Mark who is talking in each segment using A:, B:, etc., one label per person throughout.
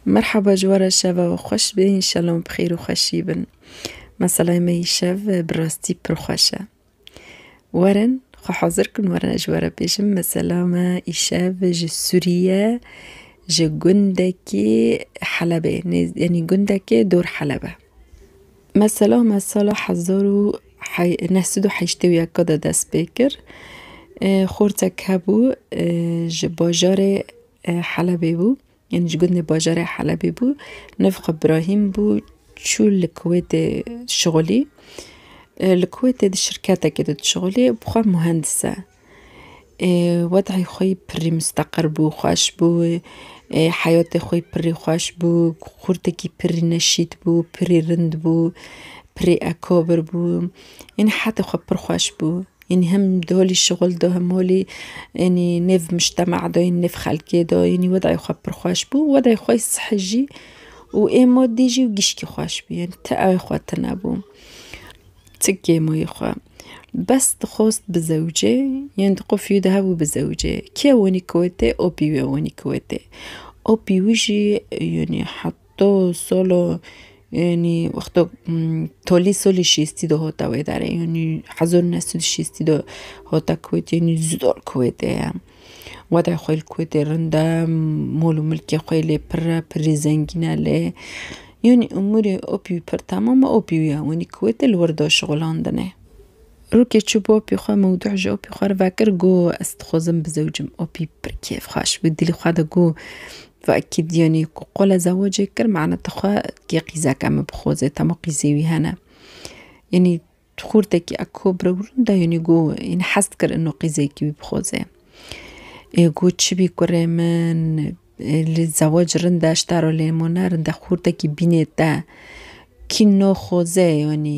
A: Merhaba ji we re şeva we xweş be înşallah em bi xêr û xweşî bin. Meselay me îşev bi rastî pir xweş e. Werin xwe hazir kin werin ez ji we re bêjim mesela me îşev ji Sûriye ji gundekî Helebê nêz yanî gundekê dor Heleb e. Mesela me sala hezar û hey neh sed û heştê û yeka de dest pê kir. Xortek hebû ji bajarê Helebê bû, yanî ji gundê bajarê Helebê bû. Niv xwe Brahîm bû, çû li Kuwêtê dişixulî. Li Kuwêtê di şirketekê de dişixulî, bi xwe muhendis e. Wed'î xwe yî pirrî misteqir bû, xweş bû, heyatê xwe yî pirrî xweş bû, xurtekî pirrî neşît bû, pirrî rind bû, pirrî ekabir bû, yanî hetê xwe pir xweş bû. Yanî him di holî şixul de him holî yanî nêv mujtema de yanî nêv xelkê de yanî wedayê xwe pir xweş bû û wedayê xwe yê sihî jî û ê madî jî û gişkî xweş bû yanî ti awê xwe tune bû. Ti kêmoyê xwe bes dixwest bi zewicê yanî di qufîyê de hebû bi zewicê kê wenî kiwêtê opî wê wenî kiwêtê opî wî jî yanî To solo yanî wexto tolî solî şêstî de hota wê darê yanî hezar û neh sed û şêstî de hata kuwêtê yanî zor kuwêtê ye watay xwe li kuwêtê rind e mol û milkê xwe yê lê pir e pirî zengîn e lê yanî umurê opî wî pir temam e opî wî ye wanî kuwêtê li wir da şixulandinê. Rokê çû bo opî xwe mewdû ji opî xwe re vekir got ez dixwazim bizewicim opî pir kêfxweş bû dilê xwe de got Vaki diyonî ku qola zewacê kir mana dixwe kê qîzeke min bixoze temo qîzê wî hene. Yanî xurtekî eko birewrin de yanî got yanî hez dikir ino qîzekî wî bixoze. Ê got çibî kurê min li zewac rind e ji te re lê hema ne rind e xurtekî bînê te kî no xoze yanî.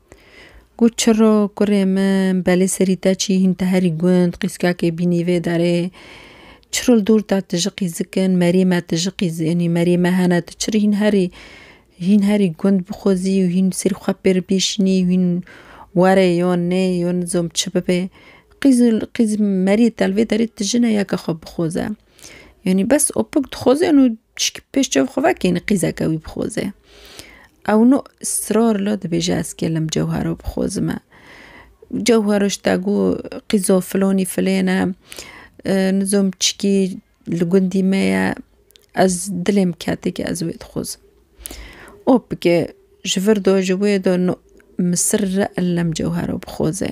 A: Got, Çiro kurê min, belê serî te çî hîn te herî gund, qîskakê bînî vê derê. Çiro li dor te ti ji qîzik in, merê me ti ji qîz înî, merê me hene, tu çiro hîn herî hîn herî gund bixwezî û hîn serî xwe pê re bêşînî û hîn were yo nê yo nizom çi bibe. Qîz qîz merê te li vê derê ti ji ne yeke xwe bixweze. Yanî bes opik dixwaze yanî tişkî pêş çav xwe vekê yanî qîzeke wî bixwaze. Ew no israr la dibêje ez gelem cewhera bixwazime. Cewhera ji te got qîza filanî filên e nizam çikî li gundî me ye ez dilê min kete ke ez wê dixwazim. Opike ji vir de ji wê de no min sirre elem cewhera bixwaze.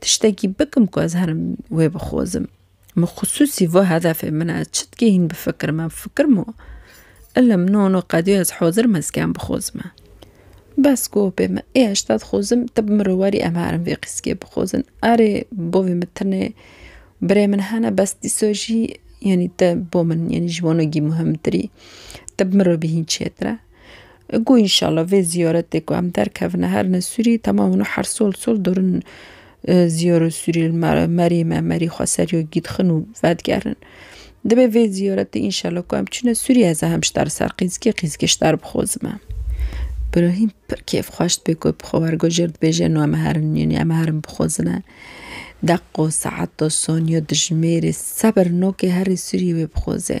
A: Tiştekî bikim ku ez herim wê bixwazim. Min xisûsî vê hedefê min e, çi dikê hîn bifikirim em fikirmo. Ilim no no qedî ez hazir im ez kêm bixwazime. Bes gopê min ê heşta dixwazim te bi min re werî em herim vê qîskê bixwazin. Erê bavê min tenê birê min hene bes dîsa jî yanî te bo min yanî ji wan re muhimtir î. Te bi min re bihîn çêtir e. Go înşallah vê zîyaretê ku em derkevine herine sûrî temam hûn û her sol sol dorin zîyarê sûrî li me re merî me merî xwe ser yo gîdxin û vedigerin. Divê vê zîyaretê înşallah ku em çûne sûrî ez ê hem ji te re ser qîzikê qîzikê ji te re bixwazime. Birahîm pir kêfxweş dibê ku bi xwe wergojêr dibêje eno em ê herin yanî em ê herin bixwazine. Deqo, saeto, soniyo dijimêrê sebir nokê herî sûrî wê bixwaze.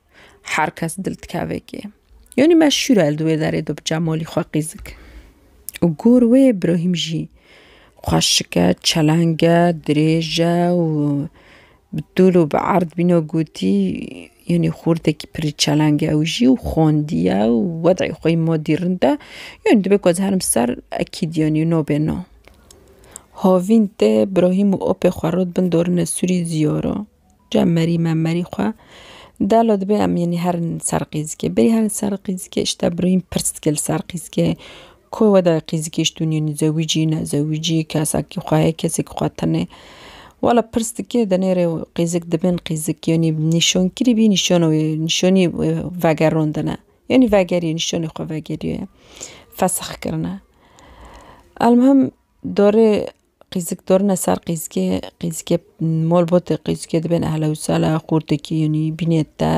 A: Her kes dil dikeve kê. Yonî me şûra li wê derê do bi Cemalî xwe qîzik. Û gor wê Brahîm jî xweşik e, çeleng e, dirêj e û bi tûl û bi erd bîne gotî yonî xortekî pirî çeleng e ew jî û xwendiye û wed'ê xwe yî madî rind e. Yonî divê ku ez herim ser ekîd yonî no bê no. Havîn tê Brahîm û apê xwe rot bin dorine sûrî ziyara. Cem merî me merî xwe delo dibe em yenî herin li ser qîzikê berî herin ser qîzikê îşte birûyîn pirs dike li ser qîzikê ku weda qîzikê îşt dûnî yenî zewîcî ne zewîcî kesekî xwe heye kesekî xwe tenê wela pirs dike denêrê qîzik dibin qîzik yenî nîşankirî bî nîşana wê nîşanî vegerandine yenî vegerî nîşanî xwe vegerî ye fesexkirine elmuhim dorê Qîzik dorine ser qîzikê, qîzikê mol botê qîzikê dibên ehlewsela xûrtekî yûnî bînê te.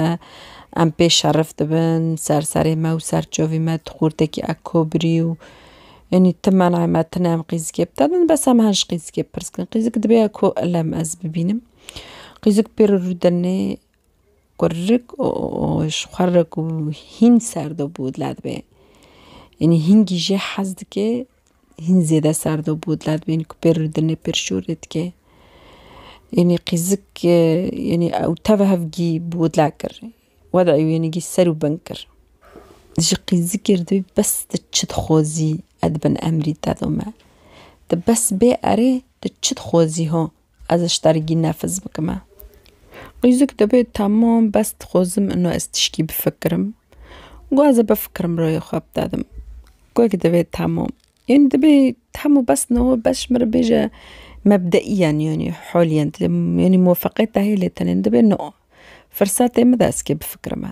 A: Em pê şerif dibin ser serê me û ser çavê me tu xûrtekî ek kobirî û yûnî ti menay me tune em qîzikê bi te din bes em her ji qîzikê pirs dikin. Qîzik dibê ku ilem ez bibînim. Qîzik pê re rûdinê Qurik û ji qurik û hîn serde bû dila dibe. Yanî hîn gî jê hez dike, hîn zêde serde bû dila dibe yanî ku pê rûdine pê şû rê dike. Yanî qîzik yanî ew teve hev gî bi we dila kir. Wede ew yanî gî ser û bin kir. Ji qîzikê re dibê bes tu çi dixwazî ez di bin emrî te de me. Tu bes bê erê tu çi dixwazî ho Ez ji tergî nefz bikime. Qîzik dibê temam bes dixwazim ino ez tişkî bifikirim. Go ez ê bifikirim rayê xwe bidedim. Gog dibê temam. Ên dibê tem û bes no bes ji min re bêje mebdeîyen yanî halîyen yanî muvefeqiyet dihêlê tenê dibê no firsatê min de ez kê bifikirime.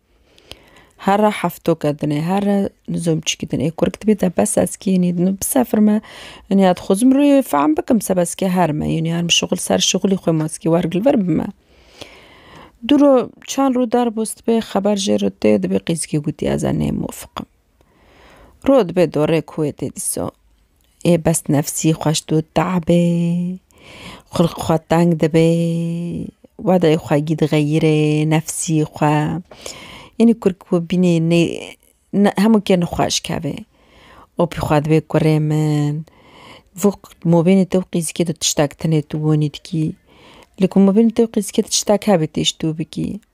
A: Herre heftoke dinê, herre nizomçîkî dinê. Kurg dibê te bes ez kî înî din bisefirme. Înî ya dixwazim rê fehm bikim seba ez kî her me. Înî ya şixul ser şixulî xwe ma ez kî wergil vir bime. Du ro çend rû der bo ez dibê xeber jê re tê dibê qîzikê gotî ez ê nêmofiqim. Ro dibê dorê kuwê tê dîsa. Ê bes nefsî xweş dû te'bê xulq xwe teng dibê wedayê xwe gî dixeyirê nefsî xwe ênî kur ku bînê nê ne hemû ke nixweş kevê û pê xwe dibê kurê min vû mobînê te û qîzikê te tiştek tenê tu gonî dikî li ku mobînê te û qîzikê te tiştek hebê tu tê ji dû bikî.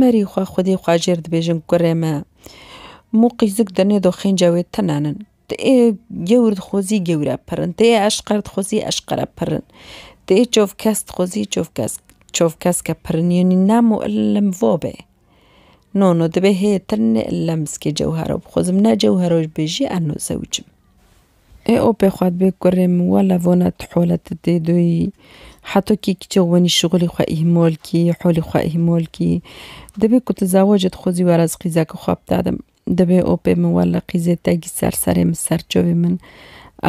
A: Merî xwe xwedî xwe jêr dibêjin kurê me. Muqîzik di nê doxên cewê tinen in. Ti ê gewr dixwezî gewr e pirin. Ti ê eşqer dixwezî eşqer e pirin. Ti ê çavkes dixwezî çavkes çavkesk e pirin. Yanî nem û ilim va be. No no dibê hê ti ne ilim zikê cewhera bixwezim ne cewhera jibêjî ez no zewicim. Ê opê xwe dibê kurê min wela vona tu hole te tê doyî. Heto kî kîçe wenî şixulî xwe îhmol kî, holî xwe îhmol kî. Dibê ku tu zewacê dixwazî were ez qîzeke xwe bidadim. Dibê opê min wela qîzê te gî ser serê min ser çavê min.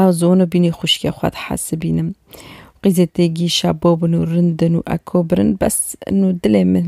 A: Ez wano bînî xwişkê xwe dihesibînim. Qîzê te gî şabo bin û rind in û eko birin bes ino dilê min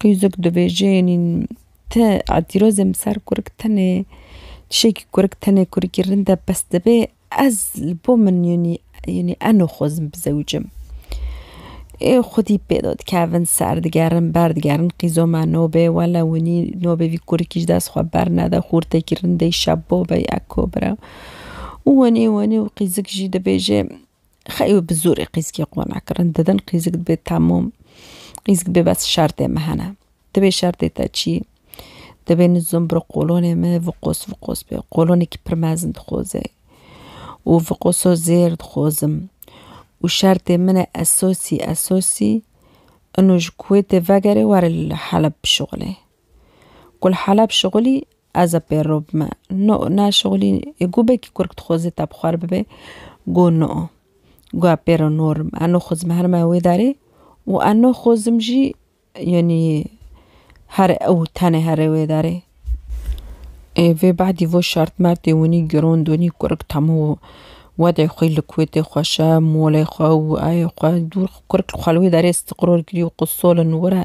A: Qîzûk dibêje yanî te îtîrazê min ser kurik tenê tişekî kurik tenê kurikî rind e pes dibê ez li bo min yanî yanî ez naxwazim bizewicim. Ê xwedî pêda dikevin ser digerin ber digerin qîza me nabê wele winî nabê vî kurikî ji dest xwe bernede xûrtekî rindeyî şebo be ya ko bira û winî winî û qîzik jî dibêje Xeyr bi zorê qîzikê qona kirin. Didin qîzik dibê temûm, qîzik dibê bes şertê me hene. Dibê şertê te çi? Dibê nizûm bi qolonê me viqos viqos be. Qolonekî pir mezin dixwazê û viqoso zêr dixwazim û şertê min e esasî esasî ino ji Kuwêtê vegerê were li Heleb bişuxulê. Ku li Heleb şixulî Ez a pê ro bime. No, na şixulî ê gu bekî kurk dixweze te bi xwar bibe, go no. Go a pê ro norim. A no xozim her me wê darê û a no xozim jî yanî her ew tenê herê wê darê. Ê vê badî vo şart mertê winî girond winî kurk temû wedê xwî li kuwêtê xweşe, molê xwe û ayê xwe dûr kurk xwe li wê darê stiqror kirî û qut solin were.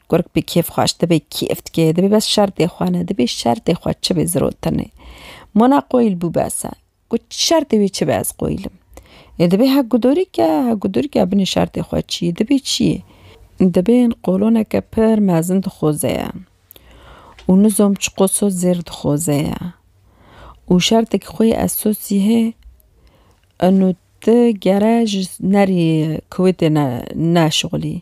A: Kurk bi kêf xwaş dibe kêf dike, dibê bes şertê xwe ne, dibê şertê xwe çi be zirotinê. Mona qoyil bû bes e. Got şertê wê çi be ez qoyilim. Ê dibê hek gudorik e, hek gudorik e binê şertê xwe çi yê, dibê çi yê. Dibên qoloneke pir mezin dixoze ye û nizom çiqo sos zêr dixoze ye û şertekî xwe yê ez sosî hê ino ti gere ji nerî kuwêtê ne şixulî.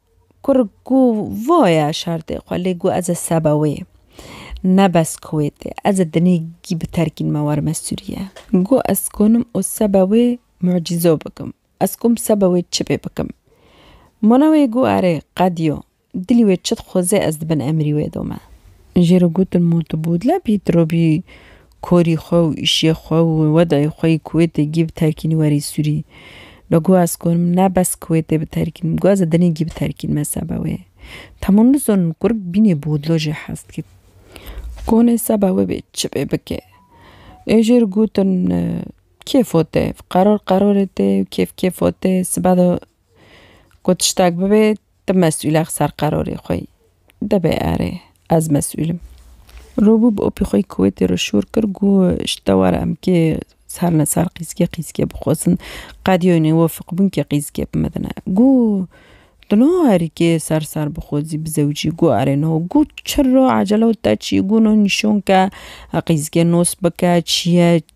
A: Kur ku voye şartê xwe lê ku ez e seba wê. Ne bes Kuwêtê, ez e dinê gî bi terkîn me warime Sûriye. Ku ez konim û seba wê mucîzo bikim. Ez kom seba wê çi bê bikim. Mona wê ku erê, qed yo. Dilî wê çi dixweze ez di bin emrî wê de me. Jê re gotin mû tu bûdle bî, tu robî Korî xwe û îşê xwe û wê dayî xwe yê Kuwêtê gî biterkînî werî Sûrî. Lo guh ez gonim ne bes Kuwêtê biterkînim, guh ez ê dinê gî biterkînim hesaba wê. Tamo nizonim kurd bînê bodlo jê hez dike. Kon hesaba wê bê çi bê bike. Ê jê re gotin kêfo tê, qeror qerorê tê, kêf kêfo tê, sibe de ku tiştek bibe, Ti mesûlex ser qerorê xwe yî. Dibê erê, ez mesûl im. Robû bi opî xwe yî kuwêtê re şûr kir, got, Ji te were em kê ser li ser qîzgê qîzgê bixwazin. Qedî wê nê wefik bûn kê qîzgê bimedine. Got, Tu niha herî kê ser ser bixwazî bi zewcî? Got, Erê niha. Got, Çira, ecele te çi ye? Got, Niha nîşan ke qîzgê nas bike, çi ye?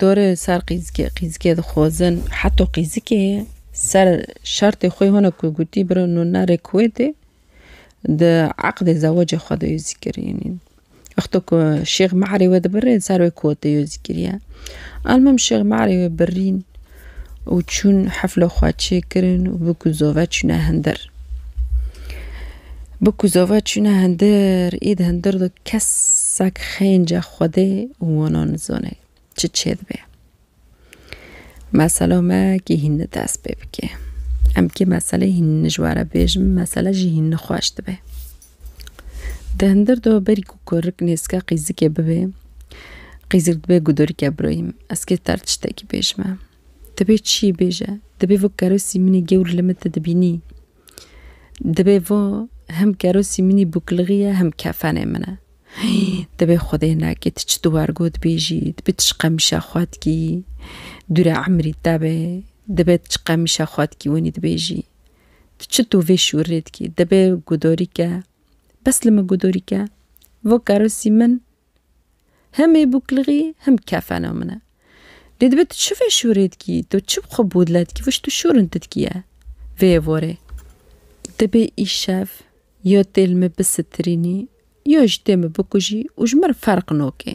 A: Dore ser qîzikê, qîzikê dixwazin heta qîzikê ser şertê xwe hona ku gotî biro no nare kuwêtê di eqdê zewacê xwe de yo zîkir yanî wexta ku şêx mehrê wê dibirê ser wê kuwêtê yo zîkir ye. Elmim şêx mehrê wê birîn. û çûn heflo xwe çêkirin û bi kuzove çûne hindir. Bi kuzove çûne hindir îd hindir do kesek xênce xwedê û wana nizane çi çêdibe. Mesela me kî hîn ni dest pê bike. Em kê meselê hîn nijware bêjim mesele jî hîn nixweş dibe. Di hindir de berî ku kurik nêzika qîzikê bibê, qîzik dibê gudurike biroyîm. Ez kê ter tiştekî bêjim e. Dibê çiyê bêje. Dibê vê kerosî min ê gewr li min te dibînî. Dibê vê hem kerosî min ê bûklixî ye hem kefenê min e. Hîî dibê xwedê neke tu çi duwar got bêjî, dibê tu çi qemîşa xwe dikî, dûre emrî te be, dibê tu çi qemîşa xwe dikî wenî dibêjî. Tu çito vê şûrê dikî? Dibe gudorîke. Bes li min gudorîke. Vo kerosî min him ê bûklixî him kefena min e. Lê dibe tu çi vê şûrê dikî? Tu çi bi xwe bûdle dikî? Vo ji tu şûrin tu dikî ye. Vê ye vorê. Dibe îşev ya tê li min bisitirînî ya ji tê min bikujî û ji min re ferq nake.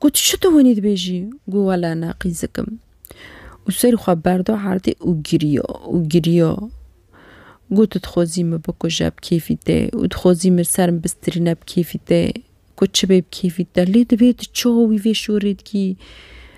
A: Got, Çi tu winî dibêjî? Got, Wele ne qîzik im. Û serî xwe berda erdê û giriya û giriya. Got, Tu dixwazî min bikuje bi kêfî te û dixwazî min li ser min bistirîne bi kêfî te. Got, Çi bê bi kêfî te? Lê divê tu çawa wî vê şorê dikî?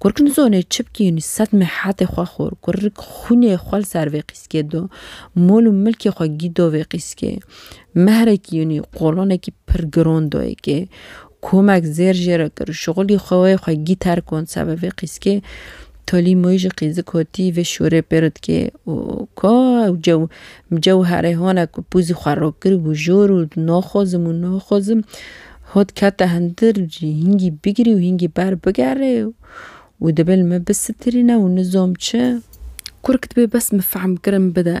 A: Kur ki nizanê çi bikîn, sed mehatê xwe xur, kur ki xûnê xwe li ser vê qîskê da, mol û milkê xwe gî da vê qîskê, mehrekî yanî qolanekî pir giran da yekê, komek zêr jê re kir, şixulî xwe wê xwe gî terk an seba vê qîskê, talî moyî ji qîzik hatî vê şorê pê re dikê û ka ew cew cewherê hane ku pûzî xwe rakiribû jor û naxwazim û naxwazim. Ho dikete hundir jî hingî bigirî û hingî ber bigerê û dibe li me bisitirîne û nizom çi. Kurk dibe bes min fehm kirin bide.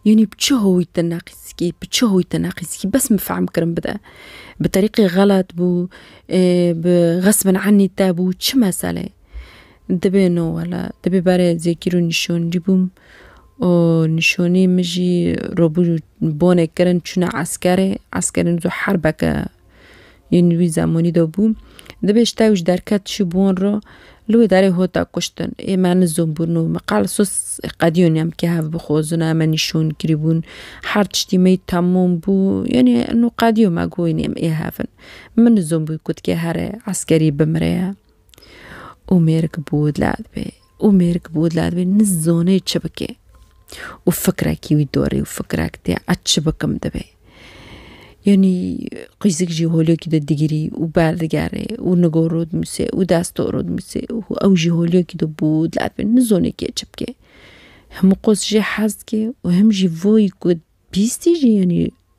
A: Yanî bi çi howî te neqîskî, bi çi howî te neqîskî bes min fehm kirin bide. Bi terîqî xelet bû, bi xesbin enî te bû çi meseleyê. Dibe no wela, dibe berê zêkîr û nîşoncî bûm û nîşonî min jî robû bonê kirin çûna eskerê, eskerên zû herbeke yên wî zemanî de bû. Dibê ji tewş derket çû bon re li wê derê hota kuştin. Ê me nizom bûn û min qal sos qedîyon em kê hev bixwazin em ê nîşon kirî bûn. Her tiştî me yî temam bû yanî qedîyo me got yanî em ê hev in. Min nizom bû ku ti kê here eskerî bimire ye. û mêrik bi wî dila dibê û mêrik bi wî dila dibê nizanê çi bike û fikrekî wî dorê û fikrek tê ez çi bikim dibê yanî qîzik jî holiyekî de digirî û berdigerê û nigor rû dimisê û desto rû dimisê û ew jî holiyekî de bi wî dila dibê nizanê kê çi bike himû qas jê hez dike û him jî vayî ku bîstî jî yanî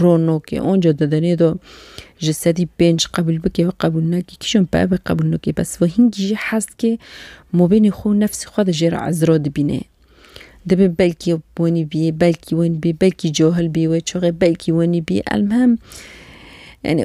A: Rono ke onca dedenê do ji sedî pênc qebûl bike û qebûl neke, kîjan peve qebûl neke bes ve hingî jî hest ke mabênê xwe û nefsê xwe de jê re ezra dibîne. Dibe belkî wenî bîyê, belkî wenî bîyê, belkî cahil bîyê wê çaxê, belkî wenî bîyê elmuhim yanî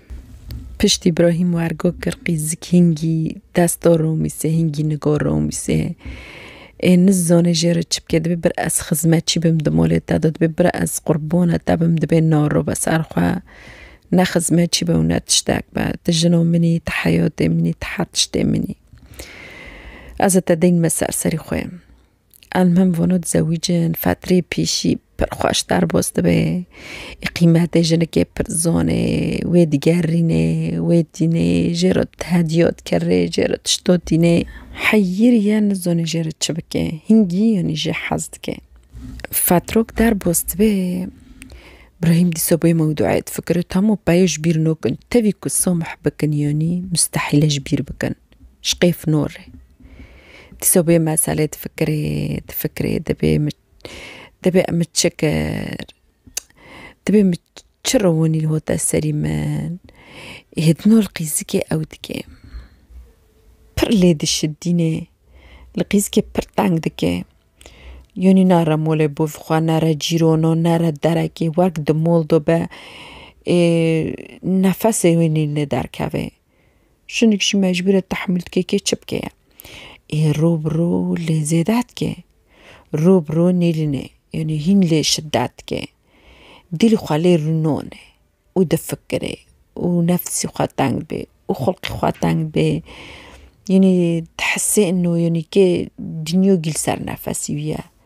A: Piştî Brahîm Wergo Kirqî Zik Hingî Desto Romîsê Hingî Nigo Romîsê ê nizane jê re çi bike dibê bir ez xizmetçî bim di malê te de dibê bir ez qurbana te bim dibê naro be ser xwe ne xizmetçî be û ne tiştek be ti jina min î ti heyatê min î ti her tiştê min î ez ê te deyîn me ser serî xwe. Elmim vano dizewicin fetrê pîşî pir xweş derbos dibe. Ê qîmetê jinikê pir zonê, wê digerîne, wê tîne, jê re tihediya dikere, jê re tişta tîne. Heyîr ye nizane jê re çi bike. Hingî yanî jê hez dike. Fetrok derbos dibe, Brahîm dîsa bê mewdûeyê difikire, Tamo peya ji bîr nakin. Tevî ku samih bikin yanî mustehîl e ji bîr bikin. Ji qêf nûr re. Dîsa bê meselê difikirê, difikirê dibê min dibê em min çi kir? Dibê min çi rewinî hate serî min? Hê din û li qîzikê ew dike. Pir lê dişidîne. Li qîzikê pir teng dike. Yanî nare molê bo vî xwe, nare cîrona, nare derekê, wek di mol de be ê nefesê wî nîne derkeve. Jinik jî mecbûr e tehmûl dike kê çi bike ye. Ê rû bi rû lê zêde dike. Rû bi rû nêlîne yanî hîn lê şidet dike. Dîl xwe lê rûnone û difikire û nefsî xwe teng bê û xulqê xwe teng bê. Yanî dihisê ino yanî kê dinya gîl ser nefesî wî ye.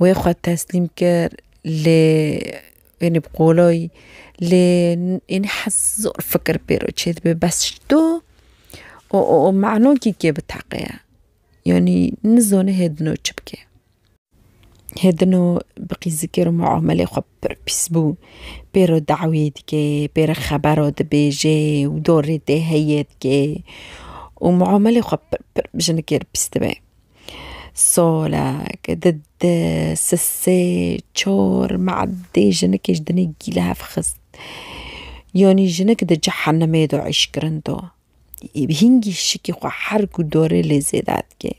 A: wê xwe teslîm kir lê wêne bi qoloyî lê ênî hez zor fikir pêro çêdibe bes ji to û manokî kê biteqeya yanî nizane hê dino çi bike hê dino bi qîzikê re mûamelê xwe pir pîs bû pêro dawiyê dike pêro xebero dibêje û dorê tê heye dike û mûamelê xwe pir pir bi jinekê re pîs dibe. Solek di di sisê çor me'dê jinikê ji dinê gîlev xist. Yanî jinik di cehenimê de îş kirin do. Hîngî şikî xwe her ku dorê lê zêde dikê.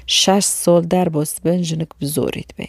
A: Şeş sol der bo sibin jinik bi zorî dibe.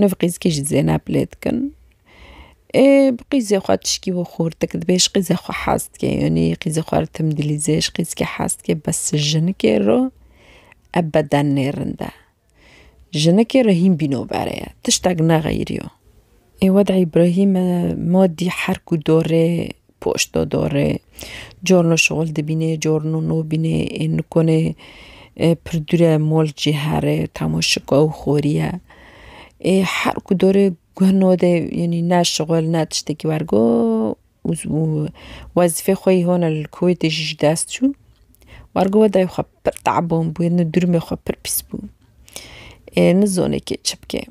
A: Nûv qîzikî ji Zêneb lê dikin. Ê bi qîzê xwe tişkî wî xûrdik dibê ji qîzê xwe hez dike yanî qîzê xwe li tim dilîzê ji qîzikê hez dike bes ji jinikê re ev beden nê rind e. Jinikê re hîn bîno berê ye tiştek nexeyiriyo. Ê wede îbrahîme modî her ku dorê Poşt do dorê. Cor no şixul dibînê, cor no nobînê. Ê nikonê pir dûre mol cî herê tamo şiko û xorî ye. Ê her ku dorê guh no de yanî ne şixul ne tiştekî wergo û wezîfê xwe yî hona li Kuwêtê jî ji dest çû. Wergo we dayê xwe pir te'eban bûye, nû dûrmê xwe pir pîs bû. Ê nizanê kê çi bike.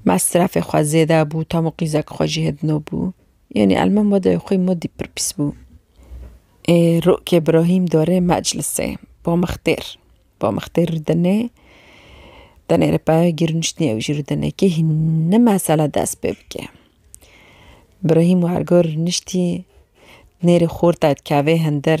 A: Mesrefê xwe zêde bû, tamo qîzek xwe jî hêdino bû. Yanî Elman Wedayê xwe modî pir pîs bû. Ê Rokê Brahîm darê meclisê Bamixtêr. Bamixtêr rû denê denê rê peya girniştnî ew jî rû denê kê hîne mesele dest pê bike. Brahîm wergo rûniştî nêrê xorta dikeve hindir.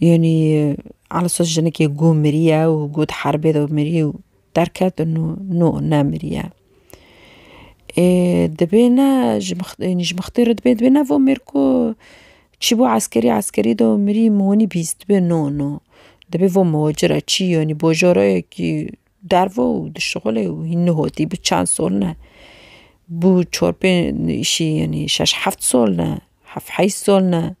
A: Yanî Elsa jinikê ku miriye û ku di herbê de mirî û derket û no nemiriye. Ê dibê ne ji mixtêrê ji mixtêrê dibê dibê ne vo mêr ku çî bû eskerî eskerî de mirî min winî bîst dibê no no dibê vo moci re çî yanî bojarayekî derve û di şixulê û hîn nihotî bi çend sol ne bû çar pênc îşî yanî şeş heft sol ne heft heyş sol ne.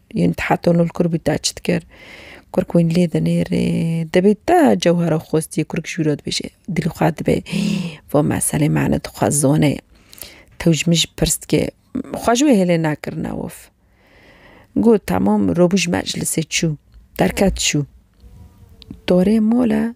A: Yên Tahatonul Kurbî taç dikir. Kurk wîn lê dinêrê. Dibê ta cewhera xwestiyê kurk ji wî re dibêje. Dilê xwe dibe va meselê mane dixwe zone. Tew ji min jî pirs dike. Xwe ji wê hêlê nakirina wif. Got, temam, robû ji meclisê çû. Derket çû. Dorê mala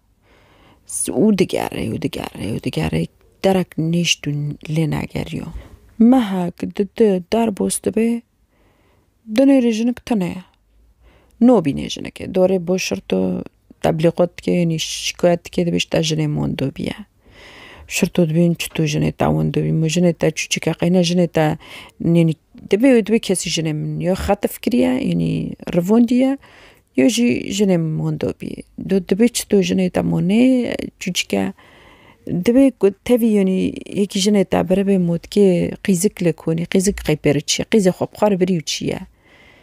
A: û digerê û digerê û digerê derek nişt û lê negeriyo. Meha ku di di derbos dibe dinê rê jinik tune ye. Nobîne jinikê dorê bo şirto teblîqot dike yanî şikayet dike dibê ji te jinê mondo bîye. Şirto dibîn çi tu jinê te windu bî min jinê te çûçik e qeyne jinê te nênî dibê wê dibê kesî jinê min yo xetif kiriye înî rivondiye yo jî jinê min windo bî do dibê çi tu jinê te monê çûçik e dibê ku tevî yenî yekî jinê te birevê motkê qîzik li konî qîzik qey pêro çi qîzê xwe bi xwe re birî û çiye.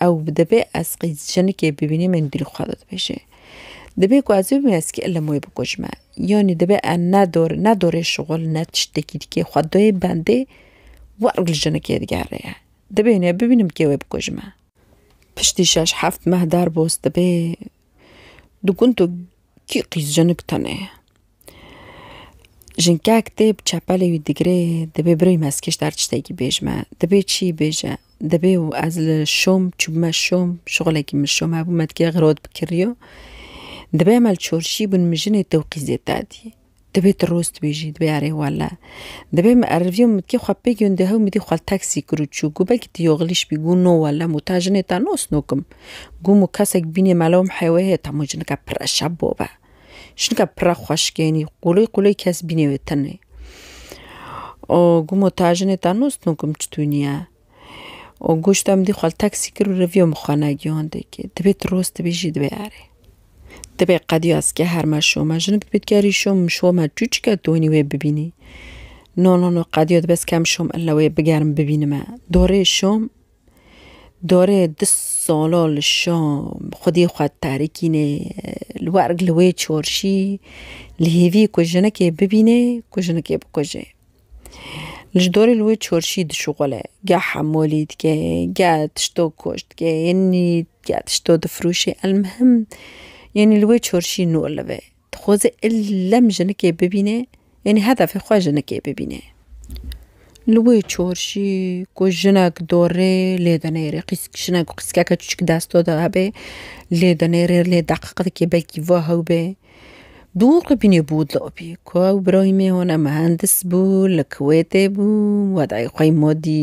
A: Ew dibê ez qîz jinikê bibînim ên dilê xwe de dibêje. Dibê ku ez bibim ez kî ilim wê bikujme. Yanî dibê ez ne dor ne dorê şixul ne tiştekî dikê xwe dayê bendê wer li jinikê digere ye. Dibê nê bibînim kê wê bikujme. Piştî şeş heft meh derbos dibê di gund de kî qîz jinik tune ye. Jinkek tê bi çepelê wî digirê dibê birêw mezkêş der tiştekî bêj me. Dibê çî bêje. Dibê û ez li şom çûbime şom şixulekî min şom hebû me dikê xirot bikiriyo. Dibê em li çorşî bin min jinê te û qîzê te dî. Dibê tu rost bêjî dibê erê wele. Dibê min eriviyo min dikê xwe pê gundê hew min dî xwe li teksî kir û çû. Gû belkî tu yoxilîş bî gû no wele mû ta jinê te nos no kim. Gû mû kesek bînê melo min hêwê hê ta mû jinike pire şebo be. Şinka pira xweşikênî qûlê qûlê kes bînê wê tenê. O gumo ta jinê ta nos no kum çi tûniye. O goşta min dî xal taksî kir û reviyo min xwe negihand kê. Dibê tu roz dibê jî dibê erê. Dibê qediya ez ke herma şoma jinik dibê tu gerî şom min şoma çû çike tu wenî wê bibînî. No no no qediya dibê ez kem şom illa wê bigerim bibînime. Dorê şom Dorê du salo li şam xwedî xwe terikînê li werg li wê çarşî li hêvî ku jinekê bibînê ku jinekê bikuje. Ji dorê li wê çarşî dişuxule geh hemolî dike geh tişto koç dike yanî geh tişto difiroşê elmuhim yanî li wê çarşî nolive. Dixwaze illem jinikê bibîne, yanî hedefê xwe jinikê bibîne. Li wê çorşî ku jinek dorê lê dinêrê, qîsk jinek û qîskeke çûçik desta de hebe lê dinêrê lê deqiq dike belkî va hew be. Dûr qibînê bû dil opî ku ew birayî me hone mihendis bû li Kuwêtê bû, wedayê xwe yî ma dî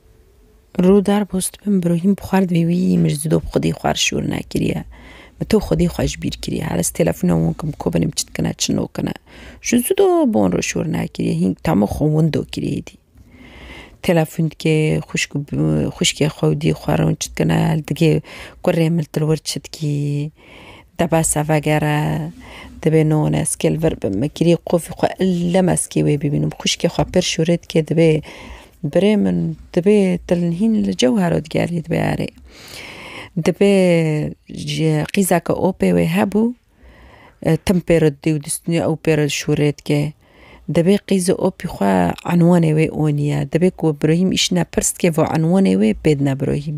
A: Rû dar boz dibin bi rohîm bi xwar divê wî min ji didob xwedî xwar şûr nekiriye. Min to xwedî xwe ji bîr kiriye. Her ez telefona wan kim ko binim çi dikine çi nokine. Ji zido bon re şûr nekiriye hînk tama xwe windo kiriye êdî. Telefon dike xwişk û xwişkê xwe û diyê xwe re hûn çi dikine li digê kurê min li wir çi dikî. Debese vegere divê no hûn ez kêl vir bim. Min kirî qufî xwe elem ez kê wê bibînim. Xwişkê xwe pir şûrê dike divê Birê min dibê tilnhîn li cewher û digerî dibe erê. Dibê ji qîza ke o pê wê hebû tim pê re didê û distînê ew pê re şûrê dike. Dibê qîzê opî xwe enwanê wê onî ye. Dibê ku bi birûhîm îşîne pirs dike va enwanê wê pê dine birûhîm.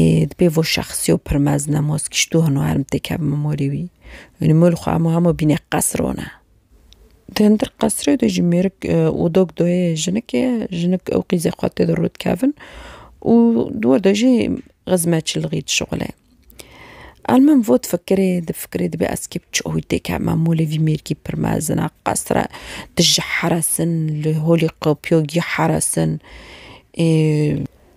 A: ê di pê vo şexsî û pir mezin e mos kîşt û hino herm têk hev mimorî wî. Ynî mol xwe hemû hemû bîne qesr one. Di hindir qesrê de jî mêrik û dok doyê jinik ê, jinik û qîzê xwe tê de rû dikevin û di wir de jî xizmetçilixî dişuxile. Ewil min vo difikirê, difikirê dibê ez kê bi çi awî têk hema molê vî mêrgî pir mezin a qesr e tu ji heresin li holî qepiyo gî heresin ê.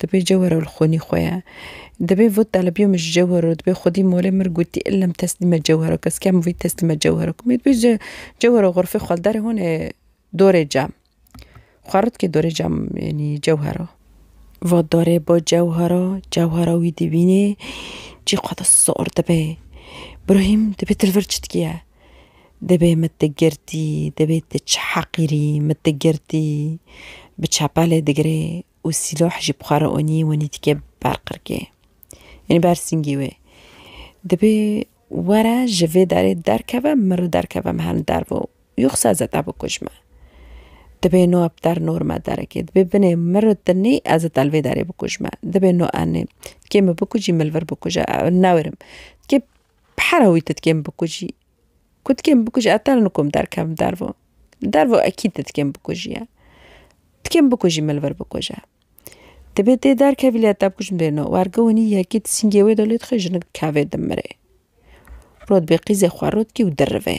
A: Dibê cewher ew li xwînî xwe ye. Dibê vot talibiyo min ji cewher o dibê xwedî molê mir gotî illa min teslîme cewher o kes kem vî teslîme cewher o kimî dibê ji cewher o xurfê xwe li derê hûn ê dorê cam xwe rit kê dorê cam yanî cewher o. Va dorê bo cewher o cewher o wî dibînê cî xwe de sor dibe. Birayîm dibê dil vir çi dikiye. Dibê min tu girtî, dibê tu çi heqîrî min tu girtî. Bi çepelê digirê û sîloh jî bi xwe re onî wenî dike ber qirkê. Yanî ber singî wê. Dibê were ji vê derê derkeve min re derkeve min herin derve û yoxsa zeta bikuj me. Dibê no bi der nor me derekê. Dibê binê min re tu nê ez zeta li vê derê bikuj me. Dibê no enê. Tikê min bikujî min li vir bikuj e. Ew newêrim. Tikê Bi hera wî tu dikê min bikujî. Ku dikê min bikujî ez tane nikom derkevim dervo. Li dervo ekîd tu dikê min bikujîye. Dikê min bikujî min li vir bikuje. Divê tê derkevî lê ez te bikujim dê no. Werge winî yekî tu sîngê wê de lê dixwe jinik dikevê dimire. Rot bê qîzê xwe rot kî û dirivê.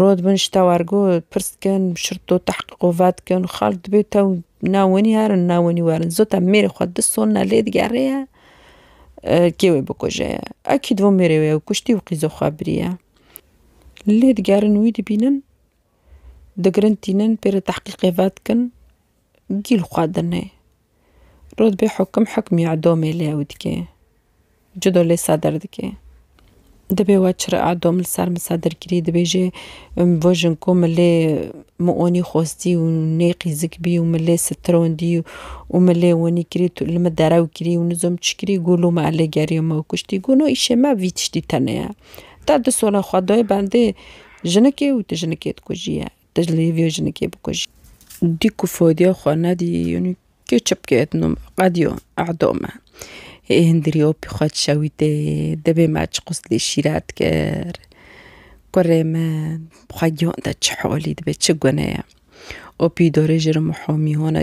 A: Rod bin ji te wer got, pirs dikin, şirto tehqîq û ve dikin, xal divê tew nav wenî herin, nav wenî werin. Zû te mêrê xwe du sonine lê digerê ye, kê wê bikuje ye. Ekîd van mêrê wê ew kuştî û qîza xwe biriye. Lê digerin wî dibînin, digirin tînin, pê re tehqîqê ve dikin. gîl xwedine. Rûtbê Hukim hukmê edomê li ew dike. Cudo lê Sedir dike. Dibê we çire edom li ser min Sedir kirî dibêje min bo jin ku min lê min onî xwestî û nê qîzik bî û min lê sitirondî û min lê winî kirî tu li min derew kirî û nizom çi kirî gû lû me elê geriyo me kuştî. Gû no îşê me vî tiştî tenê ye. Te di sola xwe dayê bendê jinikê û tu jinikê dikujiye. Diclê vê jinikê bikujî. Dî ku fodiya xwe nedî yanî kê çipkê et nom qediyo edo me. Hê hindirî opî xwe dişewîtê dibê me çi qûz lê şîret kir. Kurê min xwe giyan te çi holî dibê çi guneye. Opî dorê ji ri miho mîhone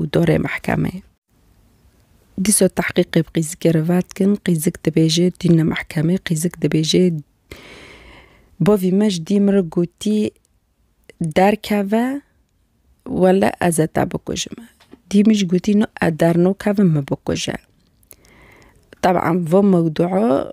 A: û dorê mehkemeyê. Dîsa tehqîqê bi Qîzikê re vedikin, Qîzik dibêje tîne mehkemê, Qîzik dibêje bavî me ji dî min re gotî derkeve wele ez e te bikujim e. Dî min jî gotî no ez dernakevim min bikuje. Teban vê mewdua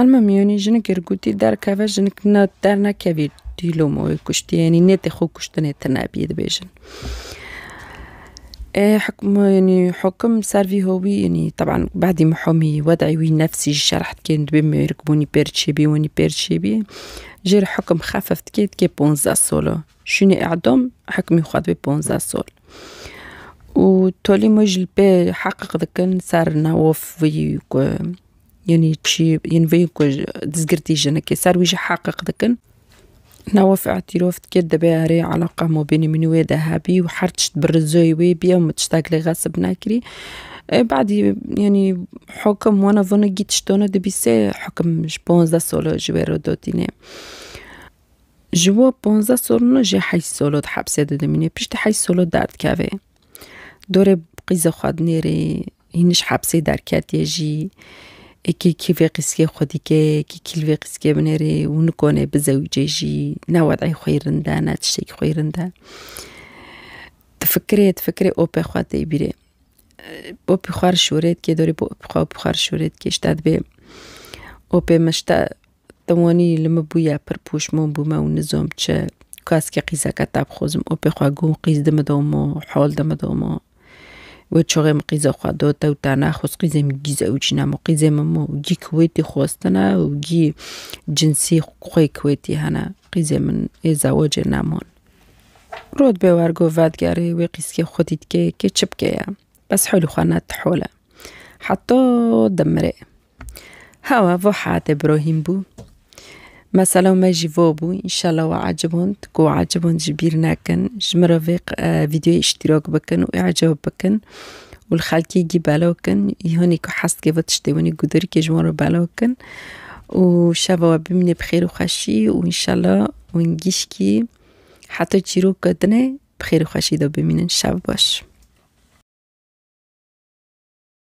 A: Elma miyonî jinik girgûtî derkeve jinik ne dernekevî dîlom û wê kuştiye yanî nêtê xwe kuştinê tune bî dibêjin. Ê hukma yanî hukum ser vî hovî yanî teban badî mihomî wedeyî wî nefsî ji şerh dikên dibê mêrik bûnî pêr çêbî winî pêr çêbî jê re hukum xefif dikê dikê ponzdeh sal o şûnê edam hukmê xwe dibê ponzdeh sal. Û tolî me ji li pê heqq dikin ser navof wî ku Yanî çi yên vê ku dizgirtî jinekê ser wî jî heqiq dikin. Nawa fi îtîrof dike dibe erê eleqa mabênê min û wê de hebî û her tişt bi rizoyê wê bî ew min tiştek li xesib nekirî. Badî yanî hikim wana vana gît tiştana dibî sê hikim ji panzdeh sala ji wê re dotîne. Ji wan panzdeh salan jî heşt sala di hepsê de dimîne piştî heşt sala derdikeve. Dorê qîza xwe dinêrî. Hîn ji hepsê derketiye jî. Ekê kîvê qîskê xwe dike, ekê kîlvê qîskê binêrê û nikone bizewîce jî. Ne wedeyê xwe yê rind e, ne tiştekî xwe yê rind e. Difikirê, difikirê opê xwe tê bîrê. Opî xwe re şûrê dikê dorê bi opî xwe, opî xwe re şûrê dikê ji te dibê. Opê min ji te Tim wanî li min bûye pir pûşmon bûme û nizom çi keskî qîzeke te bixwazim û pê xwe gun qîz di min de û min hol di min de û min wê çixê min qîza xwe do te û te nexwest qîzê min gî zewicî ne min qîzê min min û gî kiwêtî xwestine û gî cinsî xwê kiwêtî hene qîzê min ê zewicê ne min. Rût bê wergo vedigerê wê qîzkê xwe dît kê kê çi bikeye bes holî xwe ne ti hol e heta dimirê. Hewa vo hate birahîm bû. Mesela me jî vo bû înşallah we eciband ku we eciband jî bîr nekin ji min re vê vîdyoyê îştîrak bikin û îcab bikin û li xelkê gî belav kin hûnê ku hez dike vê tiştê winê ku dirikê ji wan re belav bikin û şeva we bimîne bi xêr û xweşî û înşallah wîn gîşkî heta çîroka din e bi xêr û xweşî de bimînin şev baş.